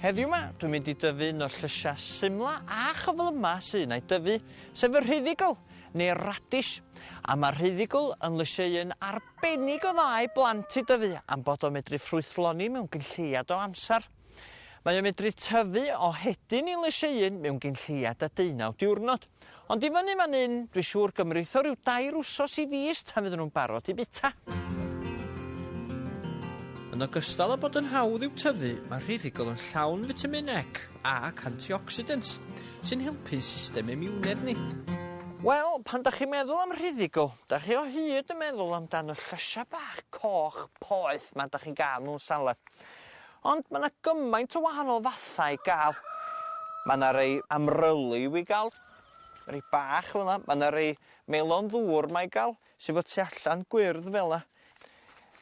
Heddiw 'ma, dwi'n mynd i dyfu un o'r llysiau symla a chyflyma sy un a'i dyfu, sef y rhyddigl, neu'r radish. A mae'r rhyddigl yn lysiau un arbennig o dda i blant i dyfu am bod o'n medru ffrwythloni mewn gynlleiad o amser. Mae o'n medru tyfu o hedyn i lysieuyn mewn gyn lleiad a deunaw diwrnod. Ond i fyny fan 'yn, dwi siŵr gymritho ryw dair wsos i fis tan fydden nhw'n barod i bita. Yn ogystal â bod yn hawdd i'w tyfu, mae'r rhithigol yn llawn fitamin ec ac antioxidants, sy'n helpu'n system imiwnedd ni. Wel, pan 'dach chi'n meddwl am rhithigol, 'dach chi o hyd yn meddwl amdan y llysia' bach coch poeth 'ma 'dach chi'n ga'l mewn salad. Ond ma' 'na gymaint o wahanol fathau i ga'l. Ma' 'na rei amryliw i ga'l, rei bach fel 'na, ma' 'na rei melon ddŵr 'ma i ga'l sy 'fo tu allan gwyrdd fel 'na.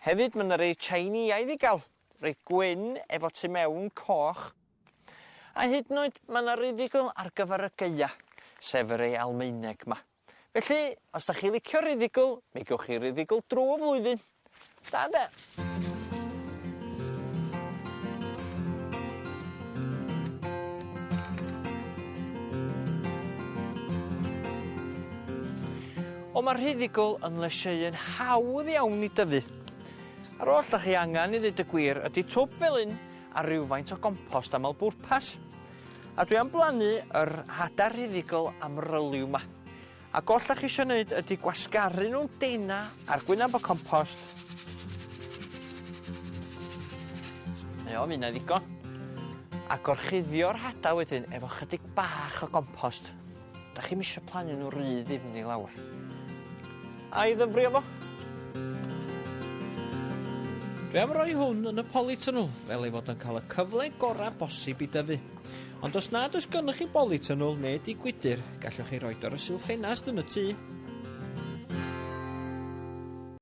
Hefyd ma' 'na rei Tsieineaidd i ga'l, rei gwyn efo tu mewn coch. A hyd yn oed ma' 'na rei ddigon ar gyfar y Gaea, sef y rei Almaeneg 'ma. Felly, os 'dach chi licio rhuddigl, mi gewch chi ruddigl drw y flwyddyn. Da ynde? Ond ma'r rhuddigl yn lysieuyn hawdd iawn i dyfu. A'r oll 'dach chi angan i ddeud y gwir ydi twb fel 'yn a rywfaint o gompost amal bwrpas. A dwi am blannu yr hada rhuddigol amryliw 'ma. Ac oll 'dach chi isio neud ydi gwasgaru nw'n dena a'r gwynab o compost. Na fo, ma' hynna'n ddigon. A gorchuddio'r hada wedyn efo chydig bach o gompost. Dach chi'm isio plannu nhw ry ddifn i lawr. Ai ddyfrio fo? Dwi am roi hwn yn y polytunnel fel ei fod yn cael y cyfle gorau bosib i dyfu. Ond os nad oes gennych chi bolytunnel neu di gwydr, gallwch chi roed o ar y silff ffenast yn y tŷ.